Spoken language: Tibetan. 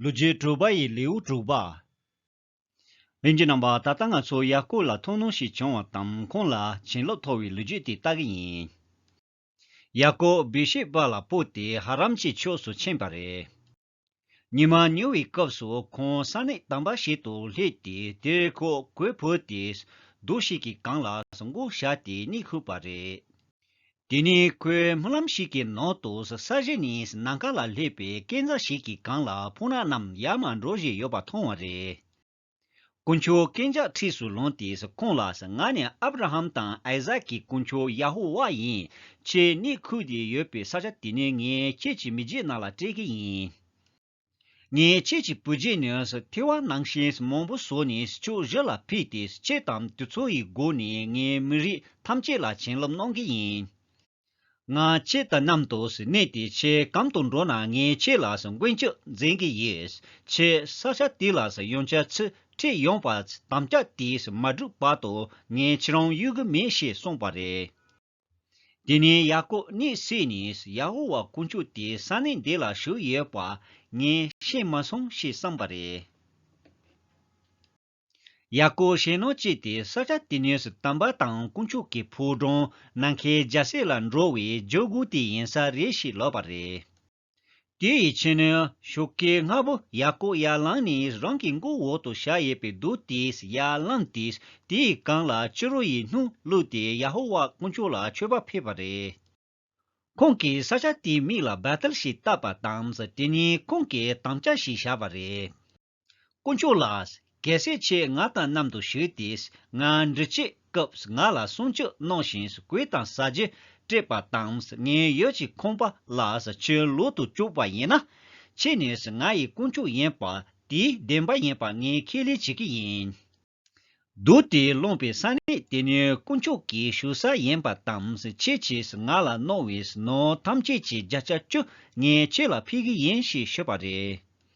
ལོ་རྒྱུས་དྲུག་པ་ཡི་ལེའུ་དྲུག་པ། འོན་ཀྱི་ནང་པ་ད་ལྟ་ང་ཚོ་ཡར་སྐུལ་ལ་མཐོང་སྣང་ཞིག་བྱུང་བ་དང་ཁོང་ལ་བྱིན་རླབས་ཐོབ་བའི་ལོ་རྒྱུས་དེ་ལྟ་གི་ཡིན། ཡར་སྐུལ་བི་ཤི་པ་ལ་སྤོས་ཏེ་ཧ་རམ་ཀྱི་ཕྱོགས་སུ་ཕྱིན་པ་རེད། ཉི་མ་ཉུལ་བའི་སྐབས་སུ་ཁོང་ས་གནས་དམ་པ་ཞིག་ཏུ་སླེབས་ཏེ་དེར་ཁོ་གོས་ཕུད་དེ་རྡོ་ཞིག་གི་སྒང་ལ་འགུགས་བཞག་སྟེ་གཉིད་ཁུག་པ་རེད། དེ་ནི་ཁོའི་སྨོན་ལམ་ཞིག་གི་ནང་དུ་ས་གཞི་ནས་ནམ་མཁའ་ལ་སླེབས་པའི་སྐས་འཛག་ཞིག་གི་སྒང་ལ་ཕུང་ནག་རྣམས་ཡར་མར་འགྲོ་བཞིན་ཡོད་པ་མཐོང་བ་རེད། དཀོན་མཆོག་སྐས་འཛག་འཁྲིས་སུ་ལངས་ཏེ་ཁོང་ལ་ང་ནི་ཨབ་ར་ཧམ་དང་ཨའི་ཟག་གི་དཀོན་མཆོག་ཡ་ཧོ་ཝཱ་ཡིན། ཁྱེད་གནས་ཁུལ་དེ་ཡོད་པའི་ས་ཆ་དེ་ནི་ངས་ཁྱེད་ཀྱི་མི་རྗེས་ནག་ལ་སྤྲད་ཀྱི་ཡིན། ངས་ཁྱེད་ཀྱི་བུ་རྗེས་ནས་ཐེ་བ་ནང་བཞིན་མང་པོ་བཟོ་ནས་ཕྱོགས་བཞི་ལ་ཕུལ་ཏེ་ཁྱེད་དང་དུས་ཚོད་ཡི་སྒོ་ནས་ངའི་མི་རིགས་ཐམས་ཅད་ལ་བྱིན་རླབས་གནང་གི་ཡིན། ང་ཁྱེད་དང་མཉམ་དུ་གནས་ཏེ་ཁྱེད་གམ་དུ་འགྲོ་ན་ངས་ཁྱེད་ལ་མགོན་སྐྱོབ་འཛིན་གི་ཡོད། ཁྱེད་ས་ཆ་དེ་ལ་ཡོང་ཆ་ཚུལ་ཁྲིམས་ཡོང་བར་དམ་བཅའ་དེ་མ་བསྒྲུབས་བར་དུ་ངས་ཁྱེད་རང་གཡོལ་གི་མེད་ཞེས་གསུངས་པ་རེད། དེ་ནས་ཡ་ཀོབ་གནས་བསྲེགས་ནས་ཡ་ཧོ་ཝཱ་དཀོན་མཆོག་དེ་ས་གནས་འདི་ལ་བཞུགས་ཡོད་པ་ངས་ཤེས་མ་སོང་ཞེས་བསམས་པ་རེད། ཡ་ཀོབ་ཞེད་སྣང་སྐྱེས་ཏེ་ས་ཆ་དེ་ནས་སུ་དམ་པ་དང་དཀོན་མཆོག་གི་ཕོ་བྲང་ནམ་མཁའི་རྒྱལ་སྲས་ལ་འགྲོ་བའི་ཇོ་གུ་དེ་ཡིན་ས་རེད་ཞེས་ལབ་པ་རེད། དེ་ཡི་ཕྱི་ནི་ཤུགས་ཀྱི་ལྔ་པོ་ཡ་ཀོ་ཡར་བླངས་ནས་རང་གི་མགོ་འོག་ཏུ་ཤ་ཡེ་པའི་རྡུལ་དེས་ཡར་བླངས་ཏེ་དེའི་རྐང་ལག་སྤྱི་རོ་ཡི་སྣོད་བླུགས་ཏེ་ཡ་ཧོ་ཝཱ་དཀོན་མཆོག་ལ་མཆོད་པ་ཕུལ་བ་རེད། ཁོང་གིས་ས་ཆ་དེའི་མིང་ལ་བེ་ཐེལ་ཞེས་བཏགས་པ་དང་དེ་ནི་ཁོང་གིས་དམ་བཅའ་ཞེས་བྱ་བ་རེད། དཀོན་མཆོག་ལགས། གལ་སྲིད་ཁྱེད་ང་དང་མཉམ་དུ་བཞུགས་ཏེ་ང་འདྲི་བྱེད་སྐབས་ང་ལ་སྲུང་སྐྱོབ་གནང་ཞིང་གོས་དང་ས་རྗེ་སྤྲད་པ་དང་ངའི་ཡུལ་གྱི་ཁང་པ་ལ་ཁྱོད་ལོག་ཏུ་བཅུག་པ་ཡིན་ན། ཁྱེད་ནི་ང་ཡི་དཀོན་མཆོག་ཡིན་པ་དེའི་བདེན་པ་ཡིན་པ་ངས་ཁས་ལེན་བྱེད་ཀྱི་ཡིན། བདུད་དེ་བླངས་པའི་ས་གནས་དེ་ནི་དཀོན་མཆོག་གི་བཞུགས་ས་ཡིན་པ་དང་ཁྱེད་ཀྱིས་ང་ལ་གནང་བའི་ནོར་ཐམས་ཅད་ཀྱི་བརྒྱ་ཆ་བཅུ་ངས་ཁྱེད་ལ་ཕུལ་གྱི་ཡིན་ཞེས་ཞུས་པ་རེད།